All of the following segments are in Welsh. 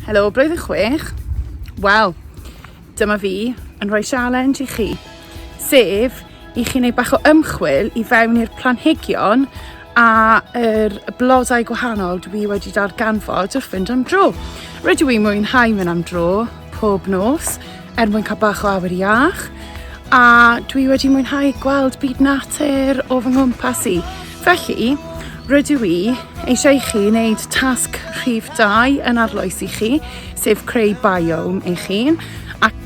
Helo, blwyddyn chwech. Wel, dyma fi yn rhoi challenge i chi, sef i chi wneud bach o ymchwil i fewn i'r planhigion a yr blodau gwahanol dwi wedi darganfod wrth fynd am dro. Rydw i'n mwynhau mynd am dro pob nos, er mwyn cael bach o awyr iach a dwi wedi mwynhau gweld byd natur o fy nghwmpas i. Felly, rydw i eisiau i chi wneud tasg rhif 2 yn arloes i chi, sef creu biome eich hun, ac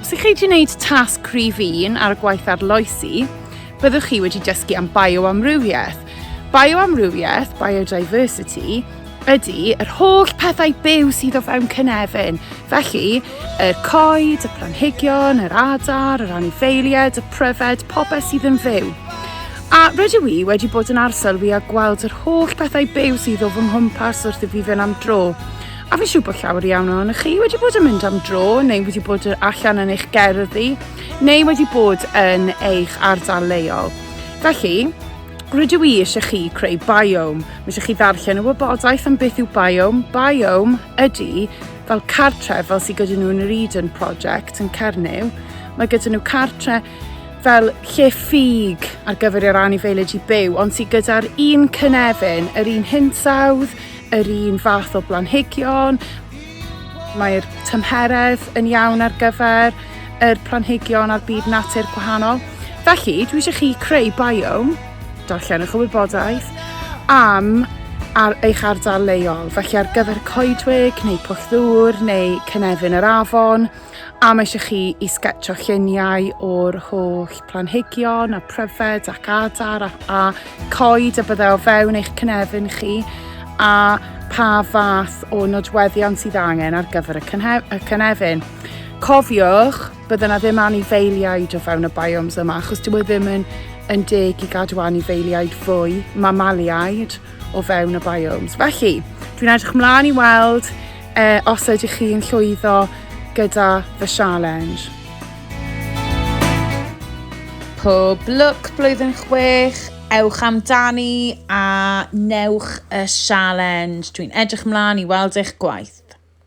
Os ydych chi wedi gwneud tasg cryf un ar y gwaith arloesi, byddwch chi wedi dysgu am bioamrywiaeth. Bioamrywiaeth, biodiversity, ydy yr holl pethau byw sydd o fewn cynefin. Felly, y coed, y planhigion, yr adar, yr anifeiliaid, y pryfed, popeth sydd yn fyw. A rydw i wedi bod yn arsylwi a gweld yr holl pethau byw sydd o fy nghwmpas wrth i fi fynd am dro. A fi'n siŵr bod llawer iawn ohonych chi wedi bod yn mynd am dro neu wedi bod allan yn eich gerddi neu wedi bod yn eich ardal leol. Felly, rydw i eisiau chi creu biome. Mae eisiau chi ddarllen y wybodaeth am beth yw biome. Biome ydy fel cartre fel sydd gyda nhw yn yr Eden Project yn Cernyw. Mae gyda nhw cartre fel lle ffug ar gyfer yr anifeilid i byw, ond sydd gyda'r un cynefin, yr un hinsawdd, yr un fath o blanhigion, mae'r tymheredd yn iawn ar gyfer yr planhigion a'r byd natur gwahanol. Felly, dwi eisiau chi creu biome, darllenwch y wybodaeth, am ar eich ardal leol, felly ar gyfer coedwig neu pwll ddŵr neu cynefin yr afon, A mae eisiau chi i sgetio lluniau o'r holl planhigion a pryfed ac adar a, a coed y byddai o fewn eich cynefin chi a pa fath o nodweddion sydd angen ar gyfer y, y cynefin. Cofiwch, byddai yna ddim anifeiliaid o fewn y biomes yma achos dyw e ddim yn, yn deg i gadw anifeiliaid fwy, mamaliaid, o fewn y biomes. Felly, dwi'n edrych mlaen i weld E, os ydych chi yn llwyddo gyda fy sialens. Pob lwc blwyddyn chwech, ewch amdani a newch y sialens. Dwi'n edrych mlaen i weld eich gwaith.